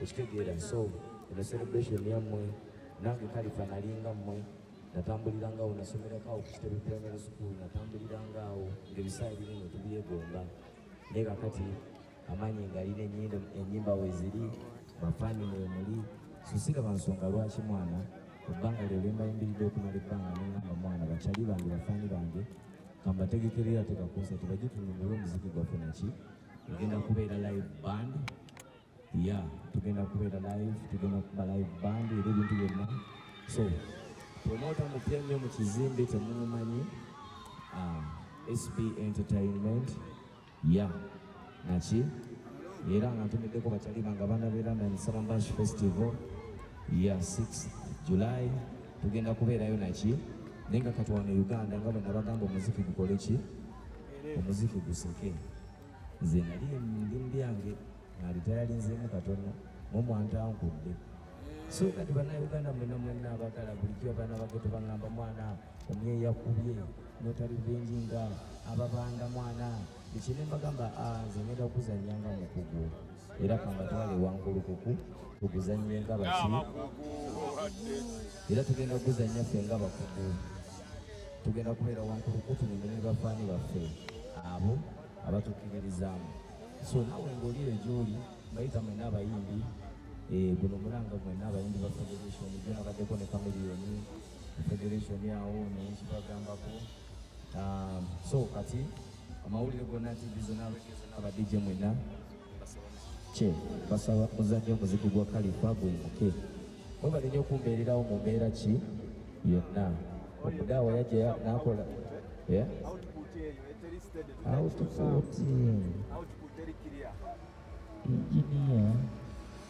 ekitegeera so eno celebration yammwe nange kalifa nalinga mmwe natambuliranga awo nasomerako awo ku kitebe primary school natambuliranga awo ngaebisaala bino nga tubyegomba naye kakati amanyi ngalina enyindo enyimba weziri bafani wemuli susiga bansonga lwaki mwana ebbanga lyo lyembayimbiride okumala ebbanga nengamba mwana bakyali bange bafani bange kambategekerera tegakunsa tebajitunyumira omuziki gwaffe naki tugenda kubeera live band ya tugenda kubeera live tugenda kuba live band era ebintu byonna so promota mupya nnyo mu kizimbe temumumanyi ah, sb entertainment ya naki era nga ntumiddeko bakyali bange abaana be london salambash festival ya 6 july tugenda kubeerayo naki naye nga katwana e uganda nga bwena bagamba omuziki gukole ki omuziki guseke nze nali ndi mubyange nalitayalinzeemu katono mumwantankudde so kati banauganda mwena mwena abagala bulijjo abaana bagetu bagamba mwana omwe yakubye notalivenji nga ababanda mwana ekyene mbagamba ah, nze ngenda okuzanya nga mukugu era kambatwale wangulukuku tuguzanye nga baki era tugenda okuzanya ffe nga bakugu tugenda kubeera wankuluku tunyume ne bafaani baffe abo abatukkiririzaamu so nawe ngaoli eyo gyoli mbayita mwena abayimbi eh, guno mulanga mwena abayimbi ba federation gyonabaddeko ne kamiliyoni federation awo nekibagambako ah, so kati amawulire gonna tv zona zona ba dj mwena kye basaba muzanyo omuzigu gwa kalifa gwimuke webale nyo okumbeererawo mu mbeera ki yonna omudaawa yajja nakola output engineer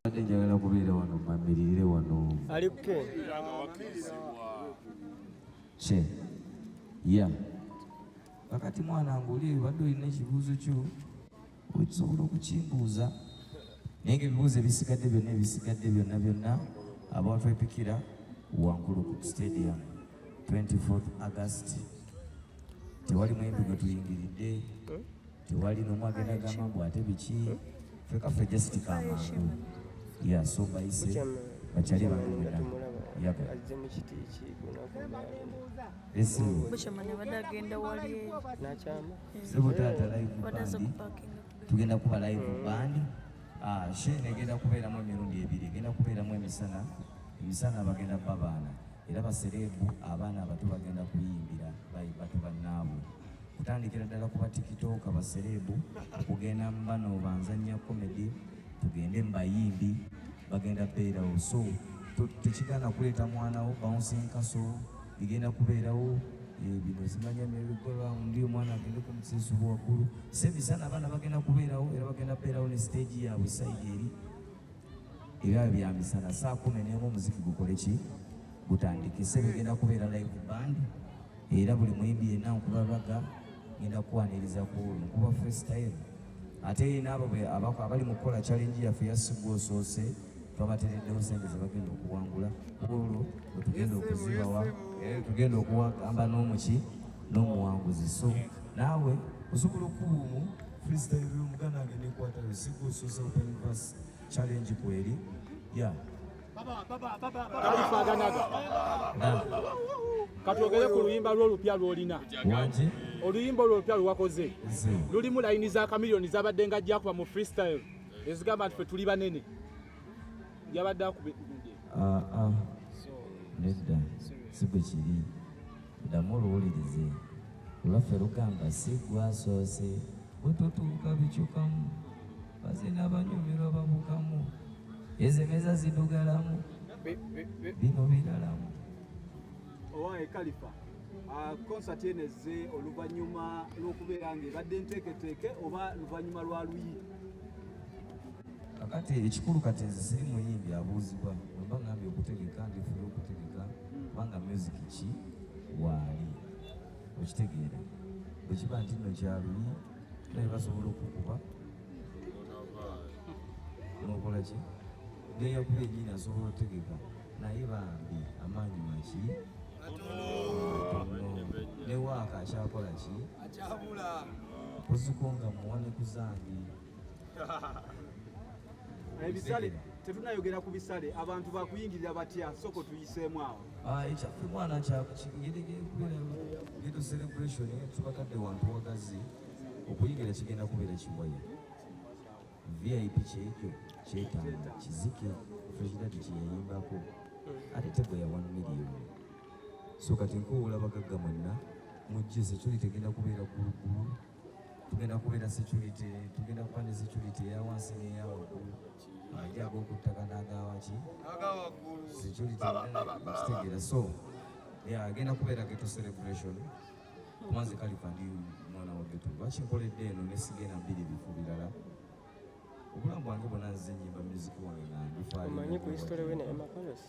Mbadde njagala kubeera wano mamiririre wano. Ali kuke. Kye. Ya. Kakati mwana ng'oli ebadde olina ekibuuzo kyo okisobola okukimbuuza naye ng'ebibuuzo ebisigadde byonna ebisigadde byonna byonna abantu epikira wankulu ku stadium 24 August tewali muyimbi gwe tuyingiridde tewali nomu agenda gamba mbu ate biki fekafe just kamangu ya so bayise bakyali bangu mwena yabo sebo taata live bandi tugenda kuba live bandi ah, shene egenda kubeeramu emirundi ebiri egenda kubeeramu emisana emisana bagenda babaana Era basereebu abaana abato bagenda kuyimbira batu bannaabwe kutandikira ddala ku batikitooka basereebu okugenda mu bano banzannya komedi tugende mu bayimbi bagenda beerawo so tekigana kuleeta mwanawo bouncing castle igenda kubeerawo eh, bino zimanya merigoraundi omwana agende ku musesubu waggulu sebisana abaana bagenda kubeerawo era bagenda beerawo ne siteegi yaabwe saidi eri Ebyayo bya misana saa kumi n'emu omuziki gukole ki gutandikise bigenda kubeera live band era buli muyimbi yenna nkubabaga ngenda kukwaniriza ku nkuba freestyle ate naabo abali mu kukola challenge yaffe yasigwa osoose twabatereddewo sente zebagenda okuwangula olwo wetugenda okuzibawa eh, tugenda okuwagamba n'omuki n'omuwanguzi so naawe osobola okubuumu freestyle muganda wange nekwatayo sigwa osoose openvas challenge kweli ya kabifaaganaga katwogere ku luyimba lwo olupya lwolina oluyimba olwo olupya lwewakoze lulimu layini za kamiliyoni zabadde nga jakuba mu freestyle ezigamba nti fe tuli banene yabadde akube ah, ah. nedda si bwe kiri ddamu oluwulirize olwaffe lugamba si gwasoose bwe totuuka bicukamu Baze nabanyumirwa babukamu. Ezo emeza zidugalamu. Bino biralamu. Owaye Kalifa. Ah, konsati eno ezze oluvannyuma lw'okubeera ng'ebadde nteeketeeke oba luvannyuma lwa luyi kakati ekikulu kati nze siri muyimbi abuuzibwa oba ngambye okutegeka ndifuna okutegeka kubanga music ki waali okitegeera bwekiba nti nno kyaluyi naye basobola okukuba nokola ki neyakuba enyini asobola otegeka naye bambi amaanyi maki newaaka akyakola ki oziko nga muwane ku zange ebisale tetunayogera ku bisale abantu bakuyingirira batya soko tuyiseemu awo ekyaffe mwana kyakugedo celebration tubakadde wantu wagazi okuyigira kigenda kubeera kiwaya vip kyekyo kyetaaga kizike presidenti kyeyayimbako ate tego ya 1 million so kati nkuwula bagagga mwenna mujje security egenda kubeera gulugulu tugenda kubeera security tugenda kuba ne security eya wansi n'eya waggulu ajja ag'okuttaka n'agawaki security kitegeera so agenda kubeera geto celebration kuba nze kalifa ndi mwana wa geto lwaki nkoledde eno nesigenda bbiri bifo birala obulamu bwange bwona nze nyimba music wange nga ndifaomanyi ku history we naye makolosi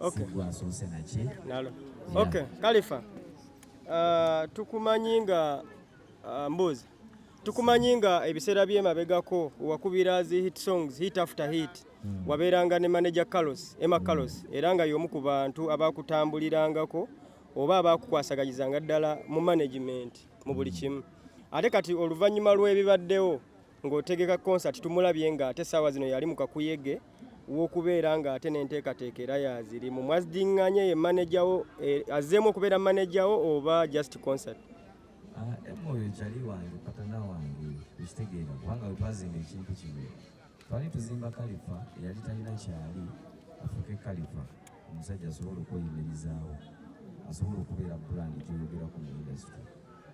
Okay. Okay, Khalifa. Uh, tukumanyi nga uh, mbuuzi tukumanyi nga ebiseera byemabegako wakubira zi hit songs hit after hit mm. wabeeranga ne manager Carlos Emma hmm. Carlos mm. era nga y'omu ku bantu abakutambulirangako oba abakukwasaganyizanga ddala mu management mu buli hmm. kimu ate kati oluvannyuma lw'ebibaddewo ng'otegeka concert tumulabye nga ate saawa zino yali mu kakuyege wokubeera nga ate nenteekateeka era yaziri mu mwazidinganye ye manejawo eh, azzeemu okubeera manejawo oba just concert ah, emoyo ekyali wange patana wange ekitegeera kubanga wetwazimba ekintu kino twali tuzimba kalifa eyali talina kyali afuuke kalifa omusajja asobola okweyimirizaawo asobola okubeera brand gyoyogerako mu industry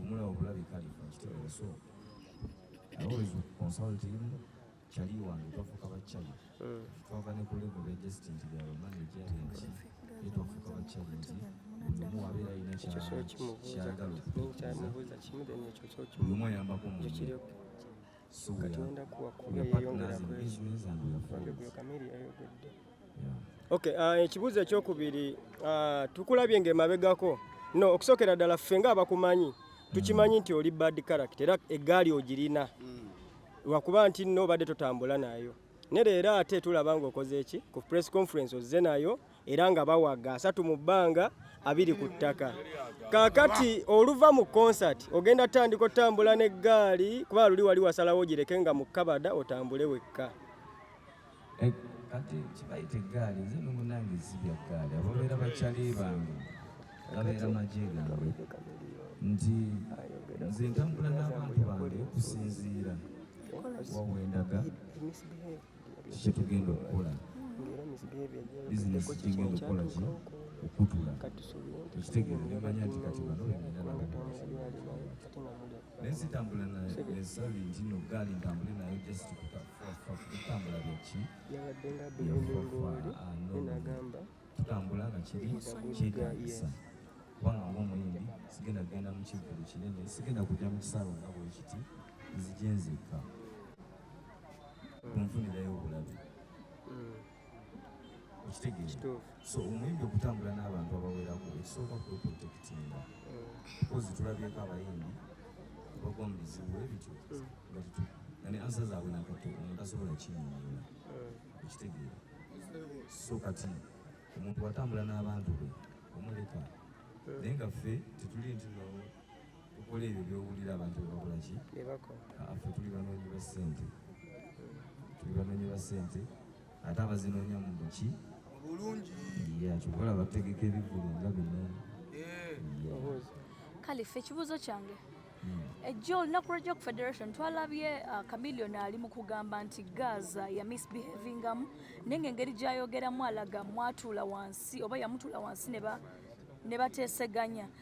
Omulawo bulabi kalifa nkitegeera so I always consult him kyali wange twafuuka bakyali hmm. twava ne kulego bejesti nti bya bamanaja benki ye twafuuka bakyali nti buli omu wabeera alina kyayagala okutekereza buli omu ayambako munne katonda kuwakuba yeyongera kwekyokamiri yayogedde okay uh, ekibuuzo ekyokubiri uh, tukulabye nga emabegako no okusookera ddala ffe nga abakumanyi tukimanyi nti oli bad character era eggaali ogirina mm. lwakuba nti nno obadde totambula nayo ne leero ate tulaba nga okoze eki ku press conference ozze nayo era nga bawaga asatu mu bbanga abiri ku ttaka kakati oluva mu konsati ogenda tandika otambula n'eggaali kuba luli wali wasalawo ogireke nga mu kabada otambule wekka eh, kati kibayita eggaali nze nomunange zibya ggaali ababeera bakyali bange babeera magye gange nti nze ntambula n'abantu bange okusinziira wawendaga kyetugenda okukola bizinesi kyegenda okukola ki okutula ekitegeeza nemanya nti kati bano naye sitambula nesali nti no gaali ntambule nayo just kutambula byaki tutambula nga kiri kyetagisa kubanga ngaomuyimbi sigenda kugenda mu kivulu kinene sigenda kujja mu kisalo nga bwekiti nzije nzekka kunfunirayo obulabe okitegeera so omuyimbi okutambula n'abantu abawerako ekisooka kweprotekitinga kozi tulabyeko abayimbi bagwa mu bizibu ebityo nga ne ansa zaabwe nakato omuntu asobola kinyonyola okitegeera so kati omuntu watambula n'abantu be omuleka naye nga ffe tetuli nti okola ebyo byowulira abantu bebakolaki affe tuli banoonyi ba ssente tuli banoonyi ba ssente ate abazinoonya mu buki kyobola bategeka ebivulu nga bino eh. kale ffe ekibuuzo kyange hmm. ejjo eh, olunaku lwajja ku federation twalabye uh, camilion ali mu kugamba nti gaza ya misbehavingamu naye nga engeri gyayogeramu alaga mwatuula wansi oba yamutuula wansi ne bateeseganya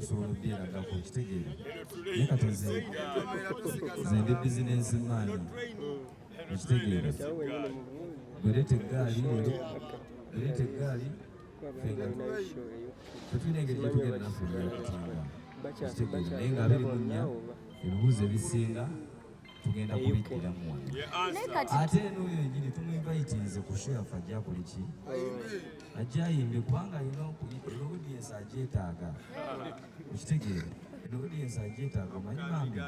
osobola obyeraga ku kitegeera naye kati nze nze ndi bizinensi maani ekitegeera bwereta eggaali leero bwereta eggaali tetulina engeri gyetugenda naffe ebyakutanga ekitegeera naye nga abiri mu nnya ebibuuzo ebisinga tugenda kubiddamu wano ate n'oyo enyini tumuinvitinze ku shelf ajja kuli ki ajja ayimbe kubanga alina audience agyetaaga okitegeera audience agyetaaga omanyi bambi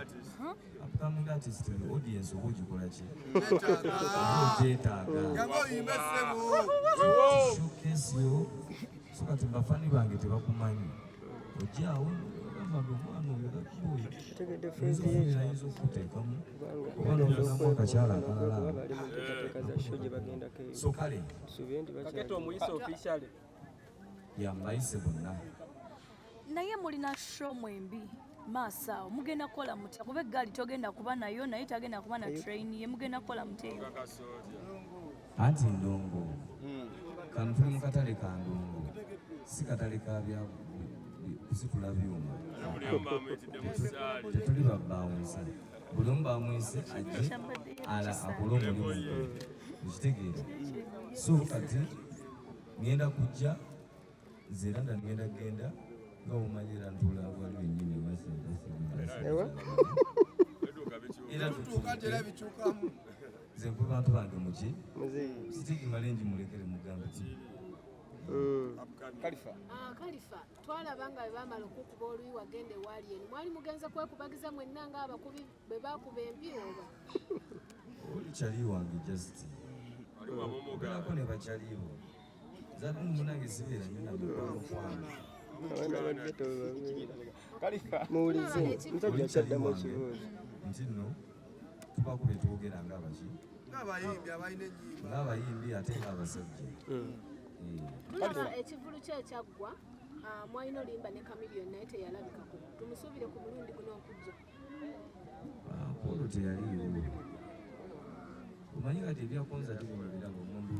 upcoming artist the audience oba ogikola ki oba ogyetaaga showcase yo so kati bafani bange tebakumanyi ojaawo bagamba omwana oyo gakuboye ayinza okukuteekamu oba nolagamu akakyala akalala so kale yambayise bonna naye mulina show mwembi maaso awo mugenda kukola mutya kuba eggaali togenda kuba nayo naye tagenda kuba na train ye mugenda kukola mutya anti ndongo hmm. kano tuli mu katale ka ndongo si katale ka bya kusitula byuma tetuli babawunsa buli omu bamwise ajje ala akole omulimu ekitegeera so kati ngenda kujja nze era nagenda genda nga omanyi era ntuula wali wenyini nze nkwe bantu bange muki sitiki malengi mulekere mugambe ti mm. kalifa ah, kalifa twalaba nga bebamala okukuba oluyi wagenda ewaali eni mwali mugenze kwekubagiza mwenna nga abakubi bwebakuba empi oba oli kyali wange just olabako ne bakyaliibo muwulize musajja kyaddamu ekibuuzo nti nno tubaku bye twogera nga baki ng'abayimbi ate ng'abasajja tulaba ekivulu kye ekyaggwa ah, mwalina olimba ne kamilion naye teyalabikako tumusuubire ku mulundi guno okujja ah, polo teyaliiwo omanyi kati ebyakonza tibulabiraba omuntu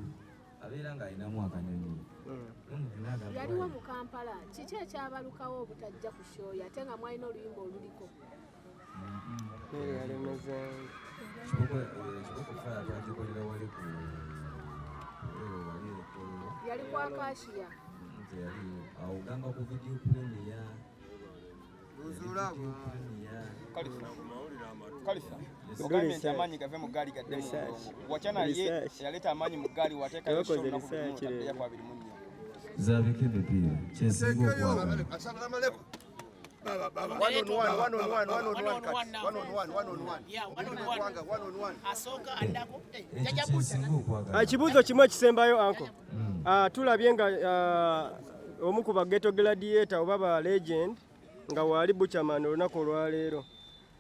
abeera ng'alinamu akanyonyi hmm. yaliwo mu kampala kiki ekyabalukawo obutajja ku shoyo ate nga mwalina oluyimba oluliko yali kwakashiya awo gamba ku vidiyo kulemu ya gavumenti amaanyi gave mu ggaali gadde watya naye yaleeta amaanyi mu ggaali wateekayo kwabiri mu nnya zabika emipiira kyesinga okwaagala ekibuuzo kimu ekisembayo anko mm. uh, tulabye nga uh, omu ku bageto gladiator oba ba legend nga waali buchaman olunaku olwaleero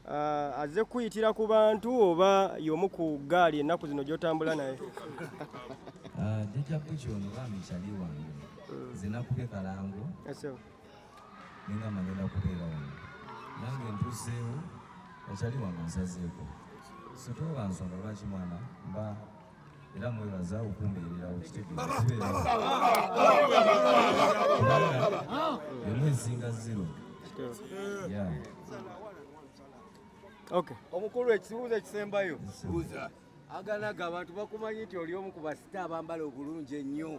uh, aze kuyitira ku bantu oba yomu ku gaali ennaku zino gyotambula naye uh, jija buki ono bamikyali wange mm. zinakubye kalango ninga magenda kubeera wano nange ntuzeewo akyali wange nsazeeko sitooba nsonga lwaki mwana mba era mwebaza okumbeererawo kitegeemu esinga zero omukulu ekibuuzo ekisembayo aganaga abantu bakumanyi nti oli omu ku basita abambala obulungi ennyo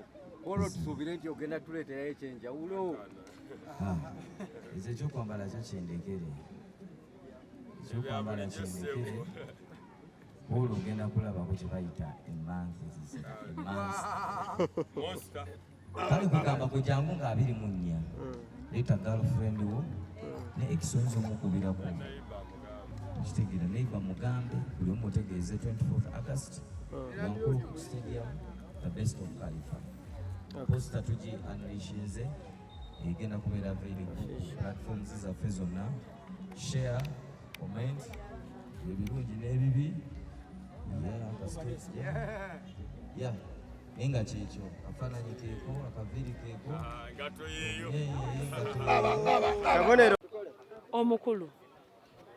olwo tusuubire nti ogenda tuleeterayo ekyenjawulo ah, nze ekyokwambala kyo kyendekere ekyokwambala kyendekere Hulu ogenda kulabako kye bayita emanzi ezizira emanzi kale kugamba gwe jangu nga abiri mu nnya leeta girlfriend wo ne ekisonzi omukubirako kitegeera neiba mugambe buli omu otegeeze 24 august wankulu ku stadium the best of califa posita tugi analishinze egenda kubeera available platforms zaffe zonna share comment ebirungi n'ebibi ya naye nga kyekyo akafaananyi keeko akaviiri keeko ah, kabonero omukulu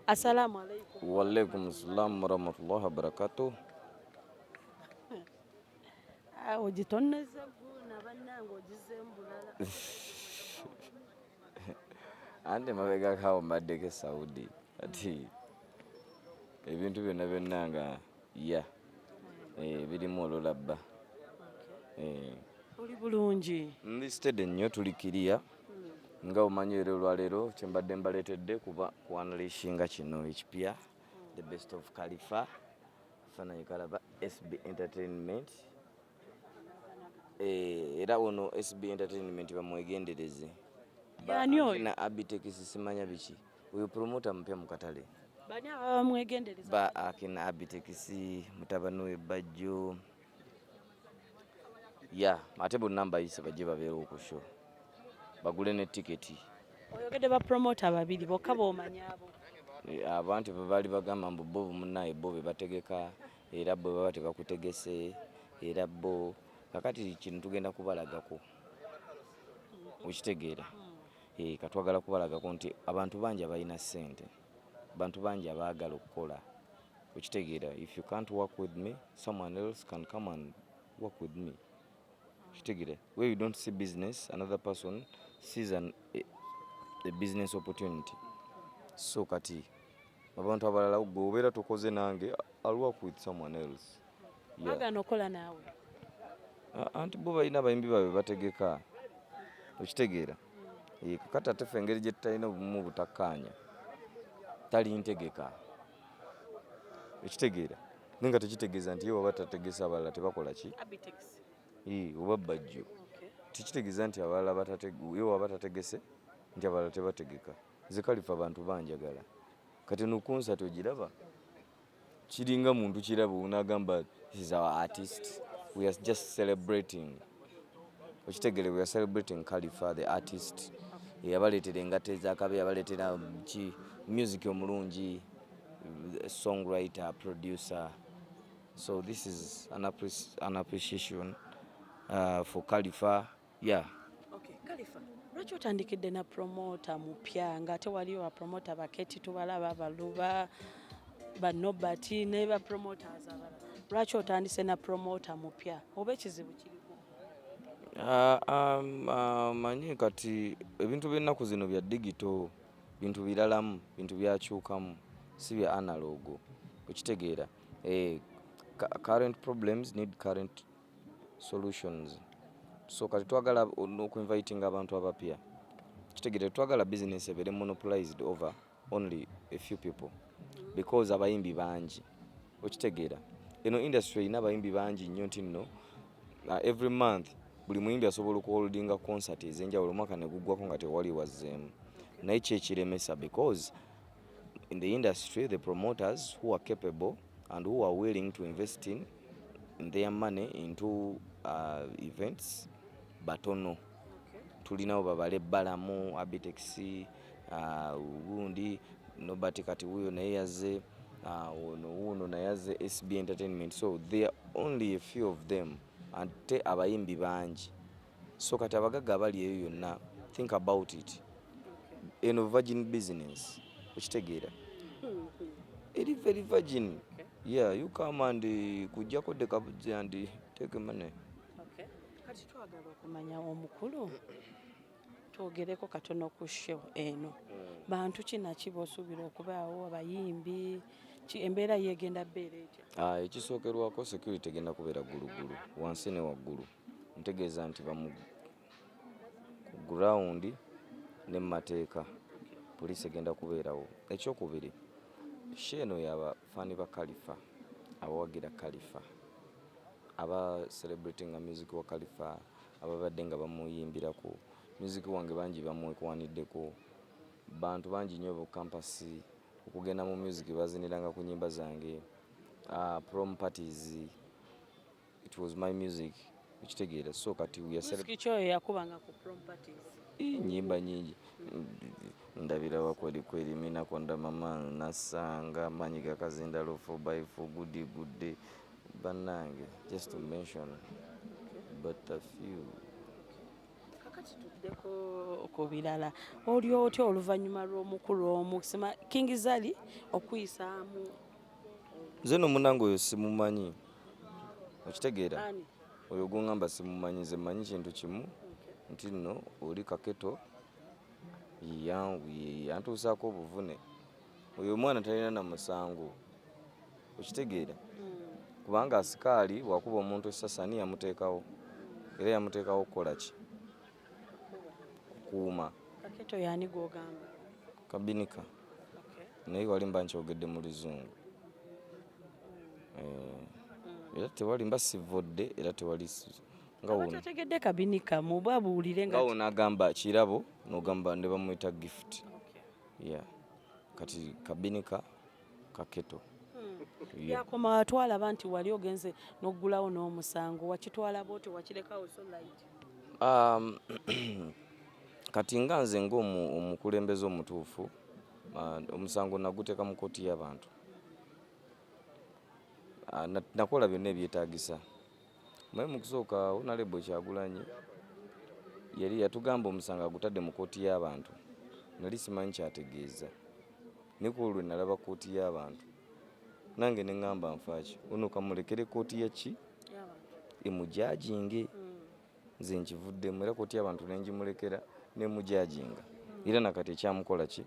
assalamu alaikum waalaikum ssalamu warahmatullahi wabarakatuh ah, ogitonneza guna bannange ogize mbulala ante mabega kawo mbaddeko esaudi ati ebintu byonna byonna nga ya eh, birimu olulabba eh. oli bulungi ndi stede nnyo tuli kiriya hmm. nga omanyi era olwaleero kyembadde mbaleetedde kuba kuanalishinga kino ekipya the best of kalifa fanayikalaba sb entertainment Eh, era ono SB Entertainment bamwegendereze na Abitex simanya biki uyu promoter mpya mu katale ba akina Abitex mutabani we Bajjo ya ate bu namba yise bajje babeera ku show bagule ne tiketi oyogede ba promoter babiri bokka bomanya abo eh, abantu bali bagamba mbu bo munaye bo bebategeka era bwe baba tebakutegese era bo kakati kino tugenda kubalagako okitegeera hmm. eh, katwagala kubalagako nti abantu bangi abalina ssente bantu bangi abaagala okukola okitegeera if you can't work with me someone else can come and work with me okitegeera where you don't see business another person sees an, a, a business opportunity so kati abantu abalala gwe obeera tokoze nange I'll work with someone else yeah. agana okola naawe anti bo balina abayimbi babwe bategeka okitegeera eh, kakati ate fe engeri gye tutalina obumu butakkaanya tali ntegeka ekitegeera naye nga tekitegeeza nti ye waba tategesa abalala tebakola ki eh, oba bajjo tekitegeeza nti abalala ye waba tategese nti abalala tebategeka nze kalifa abantu banjagala kati nokunsa togiraba kiringa muntu kiraba unagamba is our artist we are just celebrating okitegere we are celebrating kalifa the artist eyabaleetera engato ezakabe yabaleetera ki music omulungi songwriter producer so this is an appreciation uh, for kalifa yeah. okay. Kalifa lwaki otandikidde na promota mupya nga ate waliyo bapromota baketi tubalaba baluba banobati ne bapromoters abalala lwaki otandise na promota mupya oba ekizibu kiri Ah, um, ah, manyi kati ebintu by'ennaku zino bya digito bintu biralamu bintu byakyukamu si bya analogo okitegeera eh, current problems need current solutions so kati twagala okuinvitinga abantu abapya kitegere twagala business ebere monopolized over only a few people because abayimbi bangi okitegeera eno industry erina abayimbi bangi nnyo nti nno uh, every month buli muyimbi asobola okuholdinga concert ezenjawulo omwaka neguggwako nga tewali wazzeemu naye kyekiremesa because in the industry the promoters who are capable and who are willing to invest in their money into uh, events batono tulinawo babale balamu abitex uh, gundi nobati kati wuyo naye yaze uh, ono wuno naye yaze sb entertainment so there are only a few of them ate abayimbi bangi so kati abagagga abali eyo yonna think about it eno virgin business okitegeera eri very virgin yeah you come and eh, kujjako dekabuzi and eh, take money kati twagala okumanya omukulu twogereko katono ku show eno mm. bantu kinaki bosuubira okubaawo abayimbi embeera yegenda beera etya ah, ekisookerwako security egenda kubeera ggulugulu wansi ne waggulu ntegeeza nti bamu ku ground ne mu mateeka poliisi egenda kubeerawo ekyokubiri sho eno yaba faani ba kalifa abawagira kalifa aba celebrity nga music wa kalifa ababadde nga bamuyimbiraku music wange bangi bamwekwaniddeko bantu bangi nnyo bukampasi okugenda mu music baziniranga ku nyimba zange uh, prom parties it was my music ekitegeera so kati kyoyo yakubanga ku properties nyimba nyingi ndabira wakweli kweli mina konda mama nasanga manyi gakazinda lufu by for good good day banange just to mention but a few kakati tuddeko ku birala oli otya oluvannyuma lw'omukulu omu sima king zali okuyisaamu nze nomunange oyo simumanyi okitegeera oyo gwongamba simumanyi nze manyi kintu kimu nti nno oli kaketo yantuusaako obuvune oyo omwana talina na musango okitegeera hmm. kubanga asikaali wakuba omuntu esasani yamuteekawo era yamuteekawo okukola ki okukuuma kabinika naye walimba nkyogedde mu luzungu eh, era tewali mba sivvodde era tewali ngawontegedde kabinika muba buwulire nga wona agamba kirabo nogamba ne bamwita gift ya kati kabinika kaketo hmm. yakoma watwala ba nti wali ogenze n'oggulawo n'omusango wakitwala boote wakirekawo so light um, kati nga nze ng'omukulembeze omutuufu uh, omusango naguteeka mu kooti y'abantu ah, nakola byonna ebyetagisa maye mukusooka onalebo kyagulanyi yali yatugamba omusango agutadde mu kooti y'abantu nali simanyi kyategeeza nekulwo lwe nalaba kooti y'abantu nange ne ŋŋamba nfaaki ono kamulekere kooti yaki emujaginge mm. nze nkivuddemu era koti abantu nenjimulekera nemujajinga era nakati ekyamukola ki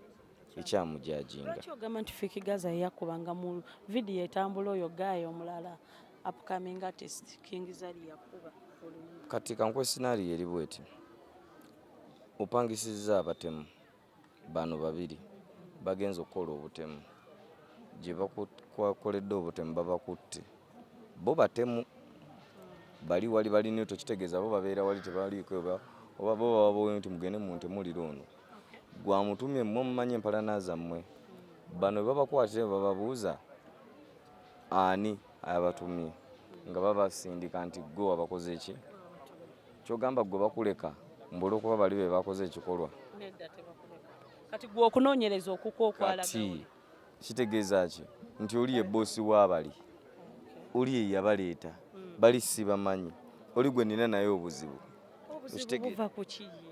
ekyamujajinga lwaki ogamba nti fiki gaza yeyakubanga mu vidiyo etambula oyo gaaya omulala upcoming artist king zari yakuba kati kankuwa esinario eri bweti opangisizza abatemu bano babiri bagenze okukola obutemu gye bakwakoledde obutemu babakutte bo batemu bali wali balina tokitegeeza bo babeera wali tebaliiko oba bo bababowe nti mugende mu ntemuliro ono gwamutumye mmwe mumanyi empalana zammwe bano bwe babakwatira bababuuza ani abatumye nga babasindika nti gwe wabakoze ki kyogamba gwe bakuleka mbula okuba bali be bakoze ekikolwa kati gwe okunoonyereza okukwokwalati kitegeeza ki nti oli ye boosi w'abali oli ye yabaleeta hmm. bali sibamanyi oli gwe nina naye obuzibu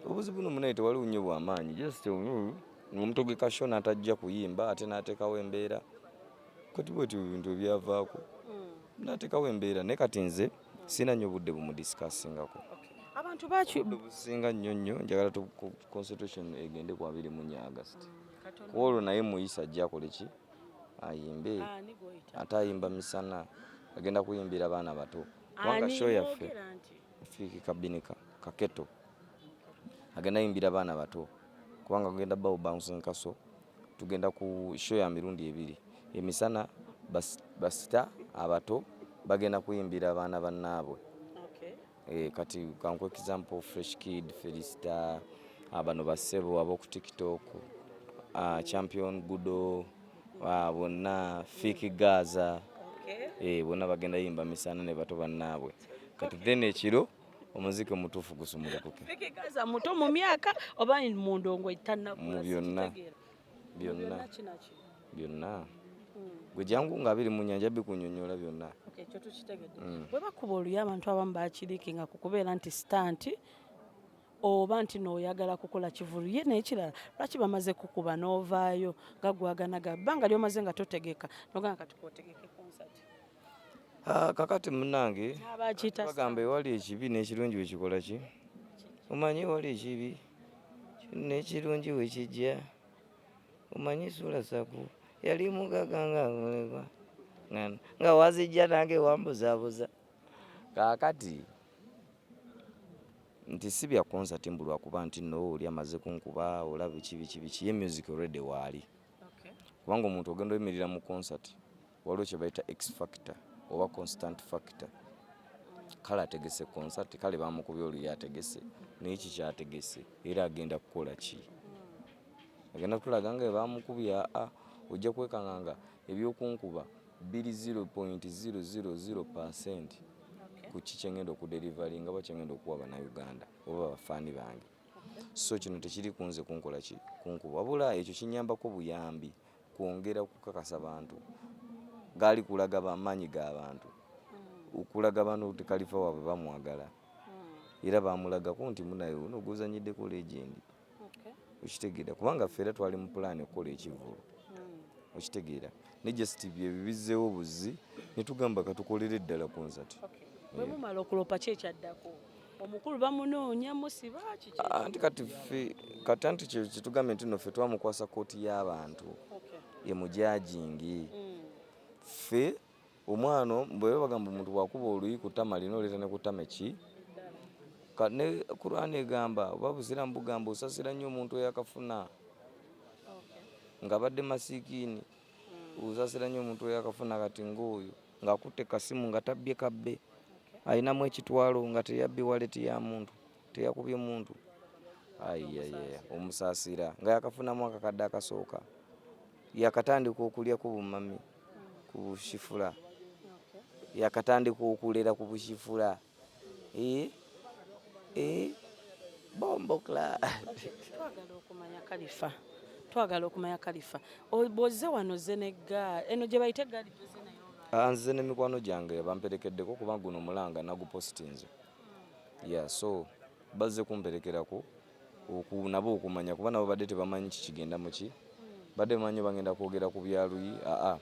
obuzibu no munaye tewaliwo nnyo bwamaanyi just omuntu gwe kasho n'atajja kuyimba ate n'ateekawo embeera kati bwetyo ebintu ebyavaako hmm. natekawo embeera naye kati nze sina nyo budde bumudisikassingako abantu businga nnyo nnyo njagala concentration egende ku abiri mu nya agasti hmm, kuolwo naye muyisa ajja akole ki ayimbe ah, ate ayimba misana agenda kuyimbira abaana bato kubanga show yaffe fiiki kabinika kaketo agenda yimbira abaana bato kubanga agenda bawo bouncing castle tugenda ku show ya mirundi ebiri emisana basita abato bagenda kuyimbira abaana bannaabwe okay. E, kati kanku example fresh kid felista abano basebo aboku tiktok uh, champion gudo ah, bonna fiki gaza okay. e, bonna bagenda yimba misana ne bato bannaabwe kati then ekiro omuziki omutuufu gusumulukuke ekikaza muto mu myaka oba mu ndongo etannakula byonna byonna byonna hmm. gwe jangu nga biri mu nyanja bikunyonyola byonna ekyo tukitegedde hmm. bwe bakuba oluyo abantu abamu bakirikinga ku kubeera nti sitanti oba nti nooyagala kukola kivulu ye nekirala lwaki bamaze kukuba n'ovaayo nga gwaganaga bbanga lyomaze nga totegeka noganga kati kotegeke konsati Ah, kakati munange bagamba ewali ekibi n'ekirungi wekikola ki omanyi ewali ekibi n'ekirungi wekijja omanyi suula saku yali mugaga nga mulekwa nga wazijja nange wambuzabuza kakati nti si bya konsati mbu lwakuba nti no oli amaze kunkuba olaba biki biki biki ye music already waali kubanga omuntu ogenda oyimirira mu konsati waliwo kyebayita x factor oba constant factor kale ategese concert kale bamukubye oluyo ategese naye kikyategese era agenda kukola ki agenda kutulaga nga bamukubye aa ojja kwekanga nga ebyokunkuba biri 0.000 percent ku ki kyengenda okudelivari nga bakyengenda okuwa banauganda oba bafaani bange so kino tekiri kunze kunkola ki kunkuba wabula ekyo kinyambako buyambi kwongera kukakasa bantu gaali kulaga bamaanyi ga bantu hmm. okulaga bano nti kalifa waabwe bamwagala hmm. era baamulagako nti munaye uno guzanyiddeko legendi okitegeera kubanga ffe era twali mu pulaani okukola ekivulu hmm. okitegeera ne just byebyo bizzeewo buzzi ne tugamba katukolere ddala konsati bwe mumala okulopa ki ekyaddako omukulu bamunoonya musiba kiki ah, anti kati ffe kati anti kye kitugambye nti no ffe twamukwasa kkooti y'abantu emujajingi mm. ffe omwana bweba bagamba omuntu bwakuba oluyi kutama lina oleeta ne kutama eki ne kurani egamba oba buziramu bugamba osasira nnyo omuntu eyakafuna ng'abadde masikiini mm. osasira nnyo omuntu eyakafuna kati ng'oyo ng'akutte kasimu nga tabbye kabbe alinamu ekitwalo nga teyabbye waleti ya muntu teyakubye muntu ayiyaye omusaasira nga yakafunamu akakadde akasooka yakatandika okulya ku bumami ku bushifula yakatandika okulera ku bushifula Eh, eh, bombo kla twagala okumanya kalifa twagala okumanya kalifa bwozze wano zze ne gaali eno gye bayita egaali ah, nze ne mikwano gyange bamperekeddeko kuba guno mulanga nagupositinze ya so bazze kumperekerako oku nabo okumanya kuba nabo badde tebamanyi kikigenda muki badde bamanyi bagenda kwogera ku byaluyi aa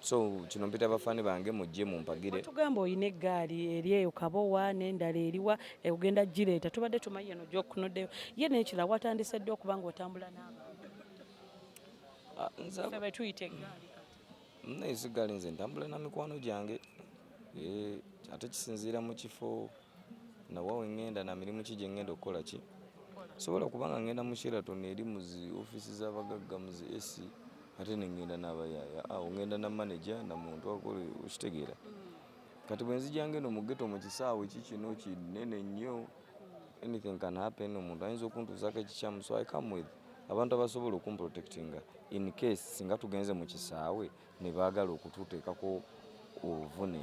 so kino mpita bafani bange mujje mumpagire tugamba oyina eggaali eri eyo kabowa n'endala eriwa egenda gireeta tubadde tumanyi yeno gyokunoddeyo ye nekira watandise dde okuba nga otambula n'abantu ah, betuyita eggaali nayise eggaali nze ntambula na mikwano gyange eh, ate kisinziira mu kifo nawa we ŋŋenda na mirimu ki gye ŋŋenda okukola ki sobola kubanga ŋŋenda mu sheraton eri mu zi ofiisi z'abagagga mu zi esi ate ne ŋŋenda n'abayaaya awo ŋŋenda na maneja na muntu akole okitegeera kati bwe nzija ng'eno mu geto mu kisaawe ki kino kinene nnyo anything can happen omuntu ayinza okuntuuzaako ekikyamu so i come with abantu abasobola okumprotectinga in case singa tugenze mu kisaawe ne baagala okututeekako obuvune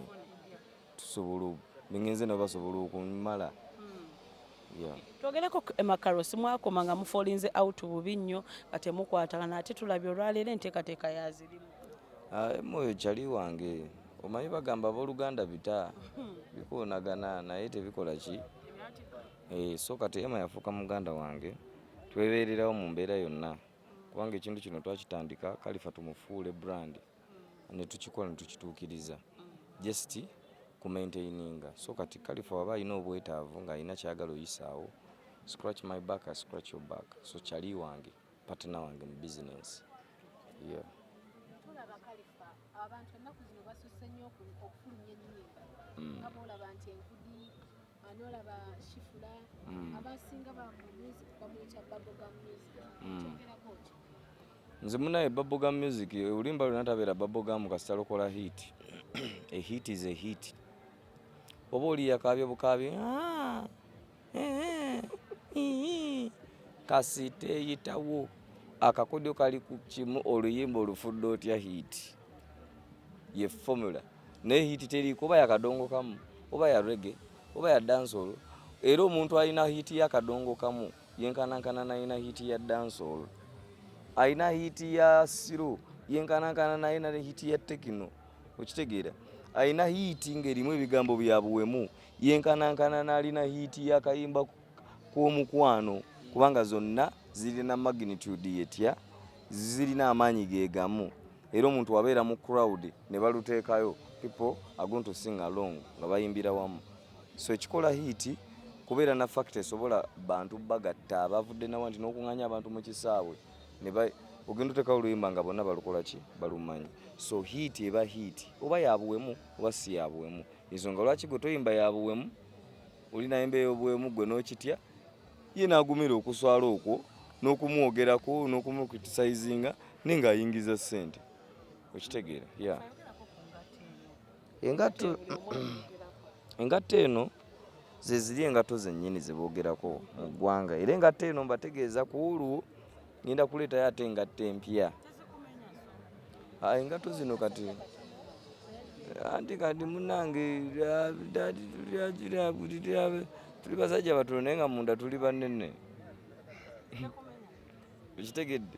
tusobola bengenze nabo basobola okumala hmm. twogereko emakaro simwakoma nga mufolinze out bubi nnyo nga temukwatagana ate tulabye olwaleero enteekateeka yazirimu ah, emoyo kyali wange omanyi bagamba abooluganda bita hmm. bikoonagana naye tebikola ki eh, so kati ema yafuuka muganda wange twebeererawo mu mbeera yonna kubanga ekintu kino twakitandika kalifa tumufuule brandi ne tukikola ne tukituukiriza just ku maintaininga so kati kalifa waba alina obwetaavu ng'alina kyagala oyisaawo scratch my back I scratch your back so kyali wange partner wange mu business yeah. tulaba kalifa abantu ennaku zino basusse nnyo okufulumya ennyimba mm. nga boolaba nti enkudi anolaba shifula mm. abasinga ba music bamuyita baboga music mm. kyogerako ki nze munaye baboga music olimba lwena tabeera baboga mu kasita lokola hit a hit is a hit oba oli yakaabye bukaabye ah, eh, eh, kasi teyitawo akakodyo kali ku kimu oluyimba olufudde otya hit ye formula naye hiti teriiko oba yakadongo kamu oba ya rege oba ya dansolo era omuntu alina hiti yakadongo kamu yenkanankana nalina hiti ya dansolo alina hiti ya siro yenkanankana naye nali hiti ya tekino okitegeera alina hiiti ng'erimu ebigambo bya buwemu yenkanankana nalina hiiti yakayimba k'omukwano kubanga zonna zirina magnitude yetya zirina amaanyi gegamu era omuntu wabeera mu crowd ne baluteekayo people are going to sing along nga bayimbira wamu so ekikola hiiti kubeera na fakita esobola bantu bagatta abavudde nawa nti n'okunganya abantu mu kisaawe ogenda otekawo oluyimba nga bonna balukola ki balumanyi so hiiti eba hiiti oba yabuwemu oba si yabuwemu ensonga lwaki gwe toyimba yabuwemu olinayo embeera obuwemu gwe n'okitya ye n'agumira okuswala okwo n'okumwogerako n'okumukritisizinga naye ng'ayingiza ssente okitegeera ya engatto engatto eno zeziri engatto zennyini zeboogerako mu ggwanga era engatto eno mbategeeza ku olwo ngenda kuleetayo ate engatto empya ah, engatto zino kati anti kati munange tuli basajja batono naye nga munda tuli banene okitegedde